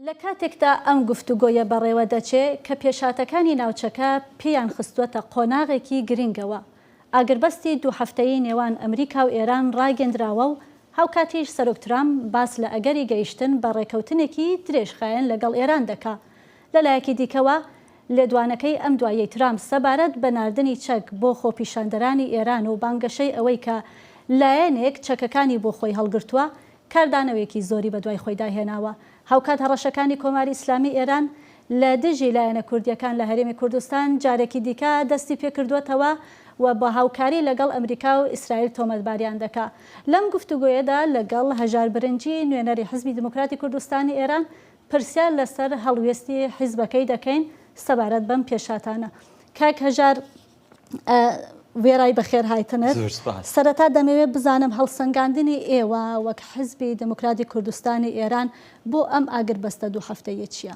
لە کاتێکدا ئەم گفتوگۆیە بەڕێوەدەچێ کە پێشهاتەکانی ناوچەکە پێیان خستووەتە قۆناغێکی گرینگەوە، ئاگربەستی دوو هەفتەیی نێوان ئەمریکا و ئێران ڕاگێندراوە و هاوکاتیش سەرۆک ترامپ باس لە ئەگەری گەیشتن بە ڕێکەوتنێکی درێژخایەن لەگەڵ ئێران دەکا لەلایەکی دیکەوە، لێدوانەکەی ئەم دواییەی ترامپ سەبارەت بە ناردنی چەک بۆ خۆپیشاندەرانی ئێران و بانگەشەی ئەوەی کە لایەنێک چەکەکانی بۆ خۆی هەڵگرتووە، کاردانەوەیەکی زۆری بەدوای خۆیدا هێناوە. هاوکات هەڕەشەکانی کۆماری ئیسلامیی ئێران لە دژی لایەنە کوردییەکان لە هەرێمی کوردستان جارێکی دیکە دەستی پێ کردووەتەوە و بە هاوکاری لەگەڵ ئەمریکا و ئیسرائیل تۆمەتباریان دەکا. لەم گفتوگۆیەدا لەگەڵ هەژار برنجی، نوێنەری حیزبی دیموکراتی کوردستانی ئێران، پرسیار لەسەر هەڵوێستی حیزبەکەی دەکەین سەبارەت بەم پێشهاتانە. کاک هەژار وێڕای بەخێرهایتنت، سەرەتا دەمەوێت بزانم هەڵسەنگاندنی ئێوە وەک حیزبی دێموکراتی کوردستانی ئێران بۆ ئەم ئاگربەستە دوو هەفتەییە چییە؟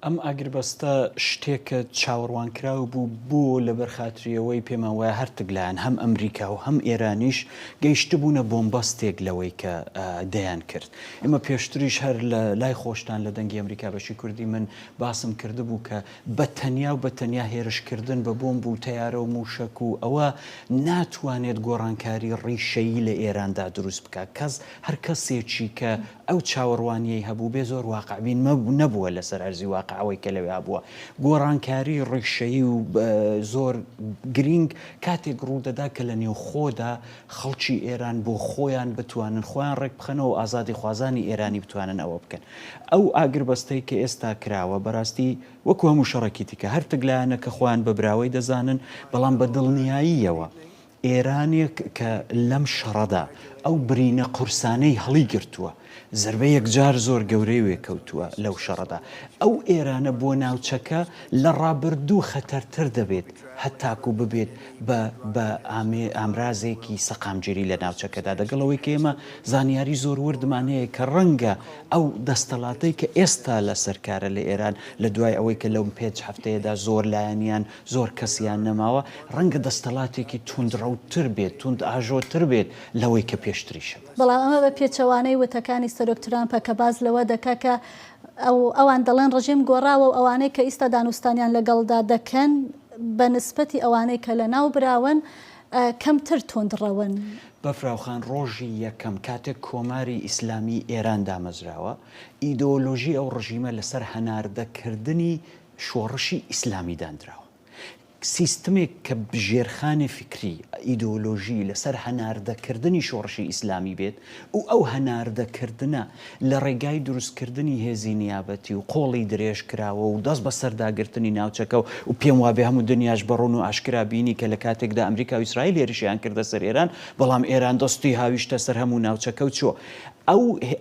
ئەم ئاگربەستە شتێکە چاوەڕوانکراو بوو، بۆ لەبەر خاتری ئەوەی پێمان وایە هەرتک لایەن هەم ئەمریکا و هەم ئێرانیش گەیشتبوونە بۆمبەستێک لەوەی کە دەیانکرد. ئێمە پێشتریش هەر لە لای خۆشتان لە دەنگی ئەمریکا بەشی کوردی من باسم کردبوو کە بە تەنیا و بە تەنیا هێرش کردن بە بۆمب و تەیارە و مووشەک و ئەوە ناتوانێت گۆڕانکاری ڕیشەیی لە ئێراندا دروست بکات کەس هەر کەسێکی کە ئەو چاوەڕوانییەی هەبووبێ زۆر واقعبین نەبووە لەسەر ئەرزی واقع ئەوەی کە لەوێ هەبووە گۆڕانکاری ڕیشەیی و زۆر گرینگ کاتێک ڕوودەدا کە لە نێوخۆدا خەڵکی ئێران بۆ خۆیان بتوانن خۆیان ڕێکبخەنەوەو ئازادیخوازانی ئێرانی بتوانن ئەوە بکەن. ئەو ئاگربەستەی کە ئێستا کراوە بەراستی وەکو هەموو شەڕەکی دیکە هەر تک لایەنە کە خۆیان بە براوەی دەزانن بەڵام بە دڵنیاییەوە ئێرانێک کە لەم شەڕەدا ئەو برینە قورسانەی هەڵیگرتوە، زەربە یەکجار زۆر گەورەی وێ کەوتووە لەو شەڕەدا. ئەو ئێرانە بۆ ناوچەکە لە ڕابردوو خەتەرتر دەبێت هەتاکوو ببێت بە بە ئامرازێکی سەقامگیری لە ناوچەکەدا. دەگەڵ ئەوەی کە ئێمە زانیاری زۆر وردمان هەیە کە ڕەنگە ئەو دەستەڵاتەی کە ئێستا لە سەر کارە لە ئێران لە دوای ئەوەی کە لەو پێنج هەفتەیەدا زۆر لایەنیان زۆر کەسیان نەماوە ڕەنگە دەستەڵاتێکی توندڕەوتر بێت، توندئاژۆتر بێت لەوەی کە پێشتریش هەبوو. بەڵام ئەمە بە پێچەوانەی وتەکانی سەرۆک ترامپە کە باس لەوە دەکات کە ئەوان دەڵێن ڕژیم گۆڕاوە و ئەوانەی کە ئیستا دانوستانیان لەگەڵدا دەکەن بە نسبەتی ئەوانەی کە لەناو براون کەمتر توندڕەون. بەفراوخان ڕۆژی یەکەم کاتێک کۆماری ئیسلامی ئێران دامەزراوە، ئیدۆلۆژی ئەو ڕژیمە لەسەر هەناردەکردنی شۆڕشی ئیسلامی دانراوە. سیستمێک کە ژێرخانی فیکری، ئیدۆلۆژی، لەسەر هەناردەکردنی شۆڕشی ئیسلامی بێت و ئەو هەناردەکردنە لە ڕێگای دروستکردنی هێزی نیابەتی و قۆڵی درێژکراوە و دەست بەسەرداگرتنی ناوچەکە و پێم وابێ هەموو دنیاش بە ڕوون و ئاشکرا بینی کە لە کاتێکدا ئەمریکا و ئیسرائیل هێرشیان کردە سەر ئێران بەڵام ئێران دەستی هاویشتە سەر هەموو ناوچەکە و چووە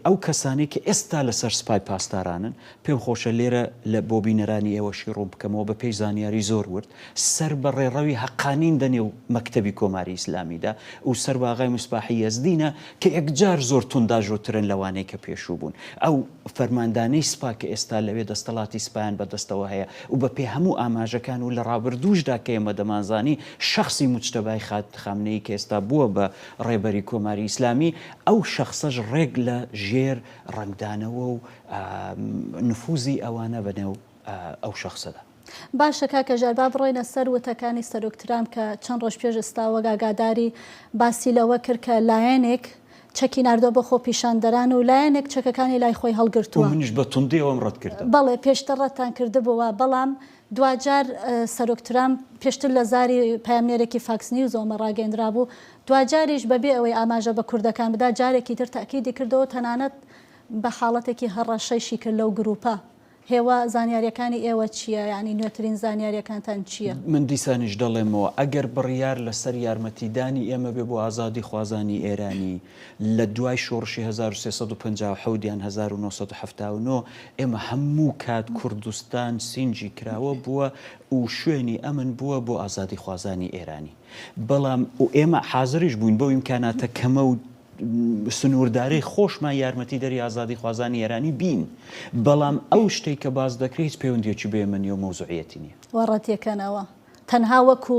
ئەو کەسانەی کە ئێستا لەسەر سپای پاسدارانن پێم خۆشە لێرە لە بۆ بینەرانی ئێوەشی ڕوون بکەمەوە بە پێی زانیاری زۆر ورد سەر بە ڕێڕەوی هەقانین دە نێو مەکتەبی کۆماری ئیسلامی دا و سەر بە ئاغای مصباحی یەزدینە کە یەکجار زۆر تونداژۆ ترن لە وانەی کە پێشوو بوون ئەو فەرماندانەی سپا کە ئێستا لەوێ دەستەڵاتی سپایان بە دەستەوە هەیە و بە پێ هەموو ئاماژەکان و لە ڕابردووش دا کە ئێمە دەمان زانی شەخسی موجتەبای خات خامنەیی کە ئێستا بووە بە ڕێبەری کۆماری ئیسلامی ئەو شەخسەش ڕێک لە ژێر ڕەنگدانەوە و نفوزی ئەوانە بە نێو ئەو شەخسەدا. باشە کاکە ژیار با بڕۆینە سەر وتەکانی سەرۆک ترامپ کە چەند ڕۆژ پێش ئێستا وەک ئاگاداری باسی لەوە کرد کە لایەنێک چەکی ناردووە بۆ خۆپیشاندەران و لایەنێک چەکەکانی لای خۆی هەڵگرتووە. و منیش بە توندی ئەوەم ڕەت کردەوە. بەڵێ پێشتر ڕەتتان کردبووە بەڵام دواجار سەرۆک ترامپ پێشتر لە زاری پەیامنێرێکی فاکس نیوزەوە مە ڕاگەیەندرابوو، دواجاریش بەبێ ئەوەی ئاماژە بە کوردەکان بدات جارێکی تر تەئکیدی کردەوە تەنانەت بە حاڵەتێکی هەڕەشەیشی کرد لەو گرووپە. هێوا، زانیارییەکانی ئێوە چییە؟ یانی نوێترین زانیارییەکانتان چییە؟ من دیسانیش دەڵێمەوە، ئەگەر بڕیار لەسەر یارمەتیدانی ئێمە بێ بۆ ئازادیخوازانی ئێرانی لە دوای شۆڕشی هەزار و سێ سەد و پەنجا و حەوت یان هەزار و نۆ سەد و حەفتا و نۆ، ئێمە هەموو کات کوردستان سینگی کراوە بووە و شوێنی ئەمن بووە بۆ ئازادیخوازانی ئێرانی. بەڵام ئێمە حازریش بووین بەو ئیمکاناتە کەمە و، سنوورداری خۆشمان یارمەتیدەری ئازادیخوازانی ئێرانی بین، بەڵام ئەو شتەی کە باس دەکرێت هیچ پەیوەندییەکی بە یەمەنی و مەوزوعییەتی نییە. وە ڕەتیەکەنەوە تەنها وەکو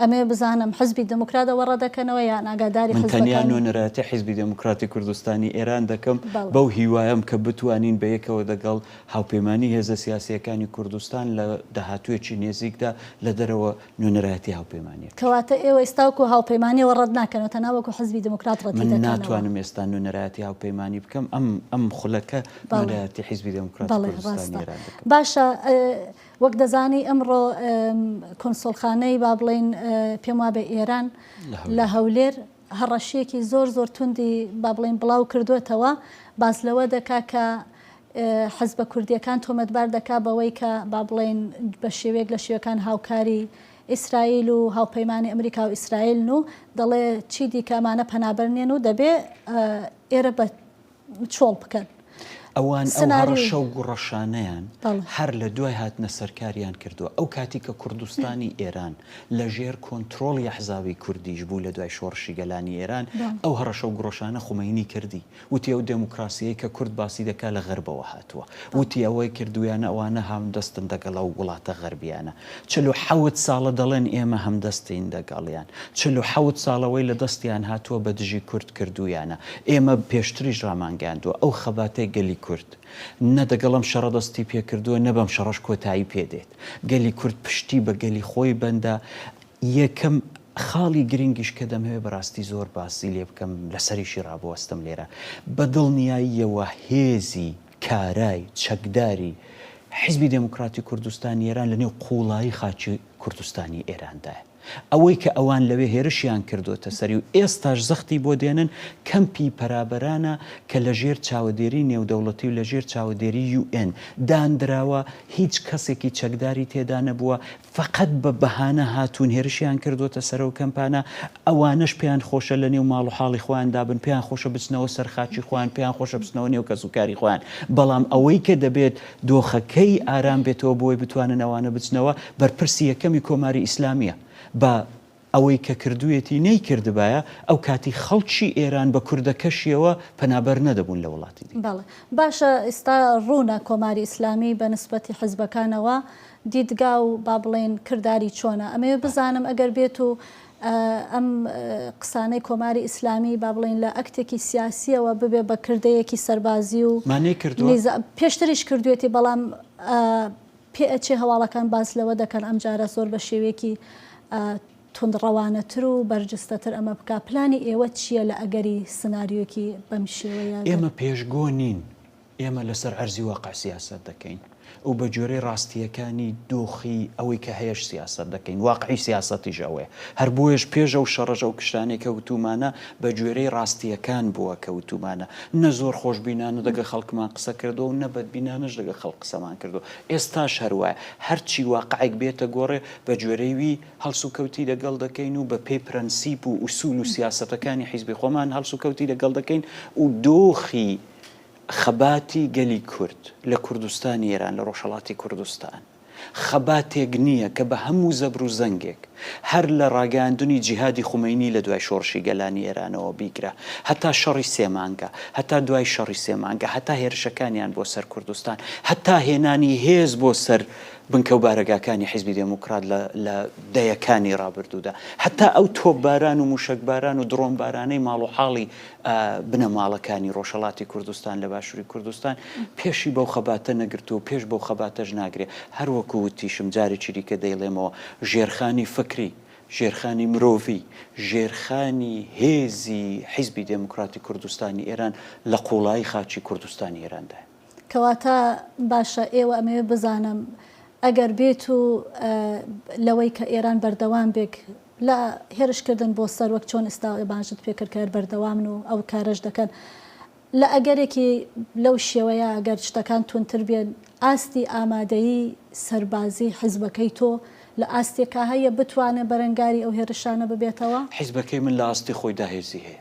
ئەمەوێ بزانم حزبی دموکرات ئەوە ڕەدەکەنەوە یان ئاگاداری حزبەکانی؟ من تەنیا نوێنەرایەتی حزبی دموکراتی کوردستانی ئێران دەکەم بەو هیوایەم کە بتوانین بەیەکەوە دەگەڵ هاوپەیمانی هێزە سیاسییەکانی کوردستان لە داهاتوویەکی نێزیکدا لە دەرەوە نوێنەرایەتی هاوپەیمانیەکە. کەواتە ئێوە ئێستا وەکو هاوپەیمانیەوە ڕەت ناکەنەوە تەنها وەکو حزبی دێموکرات ڕەتی دەکەنەوە؟ من ناتوانم ئێستا نوێنەرایەتی هاوپەیمانی بکەم، ئەم ئەم خولەکە نوێنەرایەتی حزبی دێموکراتی کوردستانی ئێران دەکەم. باشە وەک دەزانی ئەمڕۆ کونسوڵخانەی با بڵێین پێم وابێ ئێران لە هەولێر، هەڕەشیەکی زۆر زۆر توندی با بڵێین بڵاو کردۆتەوە باس لەوە دەکا کە حزبە کوردیەکان تۆمەتبار دەکا بەوەی کە با بڵێین بە شێوەیەک لە شێوەکان هاوکاری ئیسرائیل و هاوپەیمانی ئەمریکا و ئیسرائیلن و دەڵێ چی دیکە ئەمانە پەنابەر نیەن و دەبێ ئێرە بە چۆڵ بکەن. ئەوان ئەو هەڕەشە و گوڕەشانەیان هەر لە دوای هاتنە سەرکاریان کردووە. ئەو کاتی کە کوردستانی ئێران لە ژێر کۆنترۆڵی ئەحزابی کوردیش بوو لە دوای شۆڕشی گەلانی ئێران، ئەو هەڕەشە و گوڕەشانە خومەینی کردی. وتی ئەو دێموکراسییەی کە کورد باسی دەکات لە غەربەوە هاتووە. وتی ئەوەی کردوویانە ئەوانە هاوندەستن دەگەڵ ئەو وڵاتە غەربییانە. چل و حەوت ساڵە دەڵێن ئێمە هەمدەستین دەگەڵیان، چل و حەوت ساڵە وەی لە دەستیان هاتووە بە دژی کورد کردوویانە، ئێمە پێشتریش ڕامانگەیاندووە ئەو خەباتەی گەلی کورد نە دەگەڵ ئەم شەڕە دەستی پێ کردووە نە بەم شەڕەش کۆتایی پێ دێت، گەلی کورد پشتی بە گەلی خۆی بەندە، یەکەم خاڵی گرنگیش کە دەمەوێت بەڕاستی زۆر باسی لێ بکەم لەسەریشی ڕابوەستم لێرە بە دڵنیاییەوە هێزی. کارای چەکداری حیزبی دێموکڕاتی کوردستانی ئێران لە نێو قووڵایی خاکی کوردستانی ئێراندایە. ئەوەی کە ئەوان لەوێ هێرشیان کردۆتە سەری و ئێستاش زەختی بۆ دێنن، کەمپی پەرابەرانە کە لە ژێر چاوەدێریی نێودەوڵەتی و لە ژێر چاوەدێریی یوئێن داندراوە، هیچ کەسێکی چەکداری تێدا نەبووە، فەقەت بە بەهانە هاتوون هێرشیان کردووەتە سەر ئەو کەمپانە، ئەوانەش پێیان خۆشە لە نێو ماڵ و حاڵی خۆیاندا بن، پێیان خۆشە بچنەوە سەر خاکی خۆیان، پێیان خۆشە بچنەوە نێو کەسوکاری خۆیان، بەڵام ئەوەی کە دەبێت دۆخەکەی ئارام بێتەوە بۆی بتوانن ئەوانە بچنەوە، بەرپرسی یەکەمی کۆماری ئیسلامییە بە ئەوەی کە کردوویەتی نەیکردبایە، ئەو کاتی خەڵکی ئێران بە کوردەکەشییەوە پەنابەر نەدەبوون لە وڵاتی دی. بەڵێ. باشە ئیستا ڕوونە کۆماری ئیسلامی بە نسبەتی حیزبەکانەوە دیدگا و با بڵێین کرداری چۆنە. ئەمەوێ بزانم ئەگەر بێت و ئەم قسانەی کۆماری ئیسلامی با بڵێین لە ئەکتێکی سیاسییەوە ببێ بە کردەیەکی سەربازی و نیزا، پێشتریش کردوویەتی بەڵام پێئەچێ هەواڵەکان باس لەوە دەکەن ئەمجارە زۆر بە شێوەیەکی توندڕەوانەتر و بەرجستەتر ئەمە بکا، پلانی ئێوە چییە لە ئەگەری سناریۆیەکی بەم شێوەیە دەر؟ ئێمە پێشگۆ نین، ئێمە لەسەر عەرزی واقع سیاسەت دەکەین و بە گوێرەی ڕاستییەکانی دۆخی ئەوەی کە هەیەش سیاسەت دەکەین، واقعی سیاسەتیش ئەوەیە، هەر بۆیەش پێش ئەو شەڕەش ئەو کشانەی کە وتوومانە بە گوێرەی ڕاستییەکان بووە کە وتوومانە، نە زۆر خۆشبینانە دەگەڵ خەڵکمان قسە کردووە و نە بەدبینانەش لەگەڵ خەڵک قسەمان کردووە. ئێستاش هەر وایە. هەرچی واقعێک بێتە گۆڕێ، بە گوێرەی وی هەڵسوکەوتی لەگەڵ دەکەین و بە پێی پرەنسیپ و ئوسوول و سیاسەتەکانی حیزبی خۆمان هەڵسوکەوتی لەگەڵ دەکەین و دۆخی خەباتی گەلی کورد لە کوردستانی ئێران، لە ڕۆژهەڵاتی کوردستان. خەباتێک نییە کە بە هەموو زەبر و زەنگێک، هەر لە ڕاگەیاندنی جیهادی خومەینی لە دوای شۆڕشی گەلانی ئێرانەوە بیگرە هەتا شەڕی سێ مانگە، هەتا دوای شەڕی سێ مانگە، هەتا هێرشەکانیان بۆ سەر کوردستان، هەتا هێنانی هێز بۆ سەر بنکە و بارەگاکانی حیزبی دێموکرات لە لە دەیەکانی ڕابردوودا، هەتا ئەو تۆپباران و مووشەکباران و دڕۆنبارانەی ماڵوحاڵی بنەماڵەکانی ڕۆژهەڵاتی کوردستان لە باشوری کوردستان پێشی بەو خەباتە نەگرتووە و پێش بەو خەباتەش ناگرێ. هەر وەکو وتیشم جارێکی دیکە دەیڵێمەوە ژێرخانی فکری، ژێرخانی مرۆڤی، ژێرخانی هێزی حیزبی دێموکراتی کوردستانی ئێران لە قووڵایی خاکی کوردستانی ئێراندایە. کەواتە باشە ئێوە ئەمەوێ بزانم ئەگەر بێت و لەوەی کە ئێران بەردەوام بێک لە هێرش کردن بۆ سەر وەک چۆن ئستا ئێبانشت پێکرد کە هەر بەردەوامن و ئەو کارەش دەکەن لە ئەگەرێکی لەو شێوەیە ئەگەر شتەکان تونتر بێن ئاستی ئامادەیی سەربازی حزبەکەی تۆ لە ئاستێکا هەیە بتوانێ بەرەنگاری ئەو هێرشانە ببێتەوە؟ حزبەکەی من لە ئاستی خۆیدا هێزی هەیە.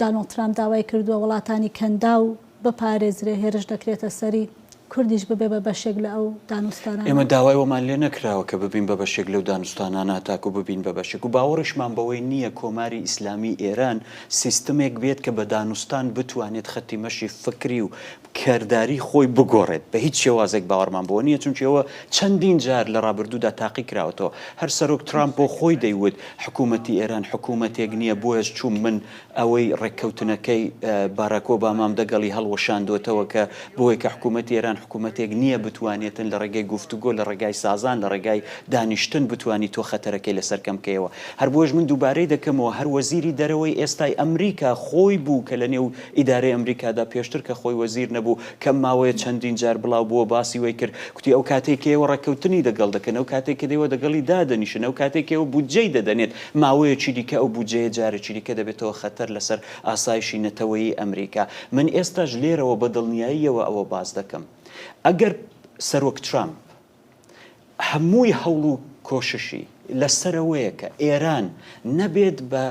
دانۆڵد ترامپ داوای کردووە وڵاتانی کەنداو بپارێزرێ هێرش دەکرێتە سەری، کوردیش ببێ بە بەشێک لە ئەو دانوستانانە. ئێمە داوای وەمان لێ نەکراوە کە ببین بە بەشێک لەو دانوستانانە تاکو ببین بە بەشێک و باوەڕیشمان بەوەی نییە کۆماری ئیسلامیی ئێران سیستمێک بێت کە بە دانوستان بتوانێت خەتی مەشی فکری و کرداری خۆی بگۆڕێت، بە هیچ شێوازێک باوەڕمان بەوە نییە، چونکی ئەوە چەندین جار لە ڕابردوودا تاقی کراوەتەوە، هەر سەرۆک ترامپ بۆ خۆی دەیوت حکوومەتی ئێران حکوومەتێک نییە، بۆیەش چووم من ئەوەی ڕێککەوتنەکەی باراک ئۆبامام دەگەڵی هەڵوەشاندۆتەوە کە بۆی کە حکوومەتی ئێران حکوومەتێک نییە بتوانێتن لە ڕێگەی گفتوگۆ لە ڕێگای سازان لە ڕێگای دانیشتن بتوانی تۆ خەتەرەکەی لەسەر کەم کەیەوە، هەر بۆیەش من دووبارەی دەکەمەوە هەر وەزیری دەرەوەی ئێستای ئەمریکا خۆی بوو کە لە نێو ئیدارەی ئەمریکادا پێشتر کە خۆی وەزیر نەبوو کەم ماوەیە چەندین جار بڵاو بووە باسی وەی کرد کوتی ئەو کاتەی کە ئێوە ڕێککەوتنی دەگەڵ دەکەن ئەو کاتەی کە دێوە دەگەڵی دادەنیشن ئەو کاتەی کە ئێوە بودجەی دەدەنێت ماوەیەکی دیکە ئەو بودجەیە جارێکی دیکە دەبێتەوە خەتەر لەسەر ئاسایشی نەتەوەیی ئەمریکا من ئێستاش لێرەوە بە دڵنیاییەوە ئەوە باس دەکەم ئەگەر سەرۆک ترامپ هەمووی هەوڵ و کۆششی لەسەرەوەیە کە ئێران نەبێت بە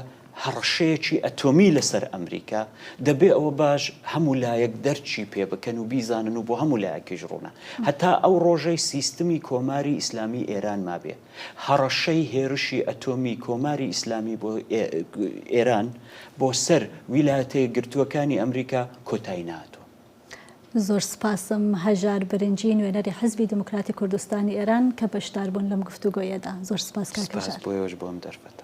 هەڕەشەیەکی ئەتۆمی لەسەر ئەمریکا، دەبێ ئەوە باش هەموو لایەک دەرکی پێ بکەن و بیزانن و بۆ هەموو لایەکیش ڕوونە هەتا ئەو ڕۆژەی سیستمی کۆماری ئیسلامیی ئێران مابێ، هەڕەشەی هێرشی ئەتۆمی کۆماری ئیسلامی بۆ ئێران بۆ سەر ویلایەتە یەکگرتووەکانی ئەمریکا کۆتایی نەهاتووە. زۆر سوپاسم هەژار برنجی نوێنەری حیزبی دیموکراتی کوردستانی ئێران کە بەشدار بوون لەم گفتوگۆیەدا. زۆر سوپاس کاک هەژار. سوپاس بۆ ئێوەش بۆ ئەم دەرفەتە.